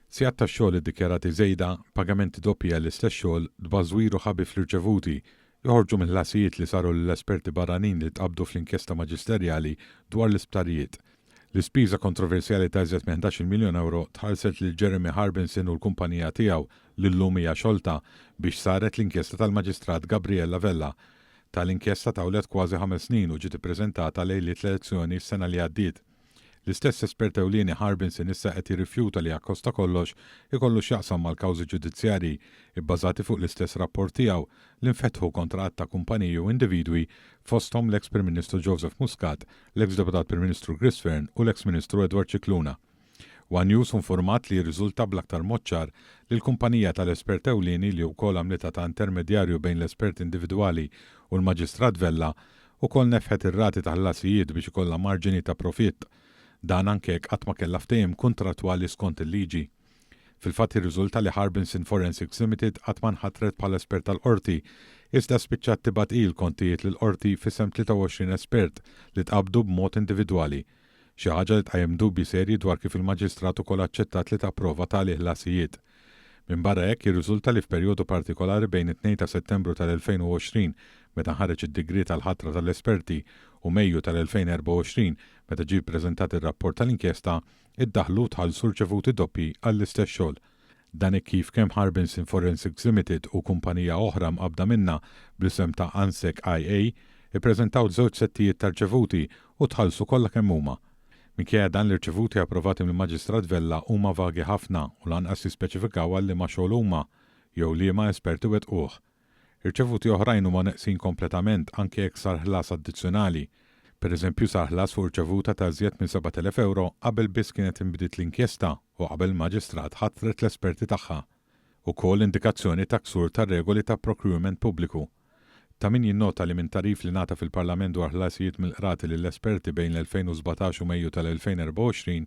Sigħat ta' xogħol iddikjarati żejda, pagamenti doppji għall-istess xogħol, tbażwir u ħabi fl-irċevuti, joħorġu mill-ħlasijiet li saru lill-esperti barranin li tqabbdu fl-inkjesta maġisterjali dwar l-isptarijiet. L-ispiża kontroversjali ta' iżjed minn ħdax-il miljun ewro tħallset lil Jeremy Harbinson u l-kumpanija tiegħu, li llum hija xolta, biex saret l-inkjesta tal-Maġistrat Gabriella Vella. Tali inkjesta tawlet kważi ħames snin u ġiet ippreżentata lejliet l-elezzjoni s-sena li għaddiet. L-istess espert ewlieni Harbinson issa qed jirrifjuta li Accosta kollox ikollu x'jaqsam mal-kawżi ġudizzjarji, ibbażati fuq l-istess rapport tiegħu, li nfetħu kontra għadd ta' kumpaniji u individwi fosthom l-eks Prim Ministru Joseph Muscat, l-eks Deputat Prim Ministru Chris Fearne u l-eks Ministru Edward Scicluna. One News hu nfurmat li jirriżulta bl-aktar mod ċar li l-kumpanija tal-espert ewlieni li wkoll għamlitha ta' intermedjarju bejn l-espert individwali u l-Maġistrat Vella Ukoll nefħet ir-rati ta' ħlasijiet biex ikollha marġini ta' profitt. Dan anke jekk qatt ma kellha ftehim kuntrattwali skont il-liġi. Fil-fatt jirriżulta li Harbinson Forensics Limited qatt ma nħatret bħala espert tal-Qorti, iżda spiċċat tibgħat hi l-kontijiet lill-Qorti f'isem 23 espert li tqabbdu b'mod individwali, xi ħaġa li tqajjem dubji serji dwar kif il-Maġistrat ukoll aċċettat li tapprova tali ħlasijiet. Minbarra hekk, jirriżulta li f'perjodu partikolari bejn it-tnejn ta' Settembru tal-2020, meta nħareġ id-digriet għall-ħatra tal-esperti, u Mejju tal-2024, meta ġie ppreżentat ir-rapport tal-inkjesta, iddaħħlu u tħallsu rċevuti doppji għall-istess xogħol. Dan hekk kif kemm Harbinson Forensics Limited u kumpanija oħra mqabbda minnha bl-isem ta' Ansec IA ppreżentaw żewġ settijiet ta' rċevuti u tħallsu kollha kemm huma. Minkejja dan l-irċevuti approvati mill-Maġistrat Vella huma vagi ħafna u lanqas jispeċifikaw għal liema xogħol huma jew liema esperti wettquh. Irċevuti oħrajn huma neqsin kompletament anke jekk sar ħlas addizzjonali. Pereżempju sar ħlas fuq rċevuta ta' iżjed minn 7,000 ewro qabel biss kienet inbdiet l-inkjesta u qabel il-Maġistrat ħatret l-esperti tagħha. Ukoll indikazzjoni ta' ksur tar-regoli ta' procurement pubbliku. Ta' min jinnota li minn tagħrif li ngħata fil-Parlament dwar ħlasijiet mill-Qrati lill-esperti bejn l-2017 u Mejju tal-2024,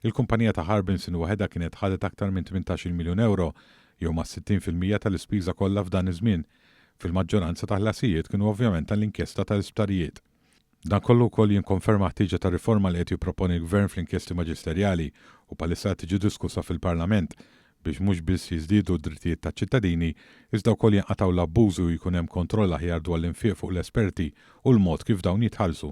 il-kumpanija ta' Harbinson waħedha kienet ħadet aktar minn 18-il miljun ewro jew mas-60 fil-mija tal-ispiża kollha f'dan iż-żmien, fil-maġġoranza ta' ħlasijiet kienu ovvjament għall-inkjesta tal-isptarijiet. Dan kollu wkoll jikkonferma ħtieġa ta' riforma li qed jipproponi l-Gvern fl-inkjesti maġisterjali u bħalissa qed tiġi diskussa fil-Parlament, biex mhux biss jiżdiedu d-drittijiet taċ-ċittadini, iżda wkoll jinqatgħu l-abbużi u jkun hemm kontroll aħjar dwar l-infiq fuq l-esperti u l-mod kif dawn jitħallsu.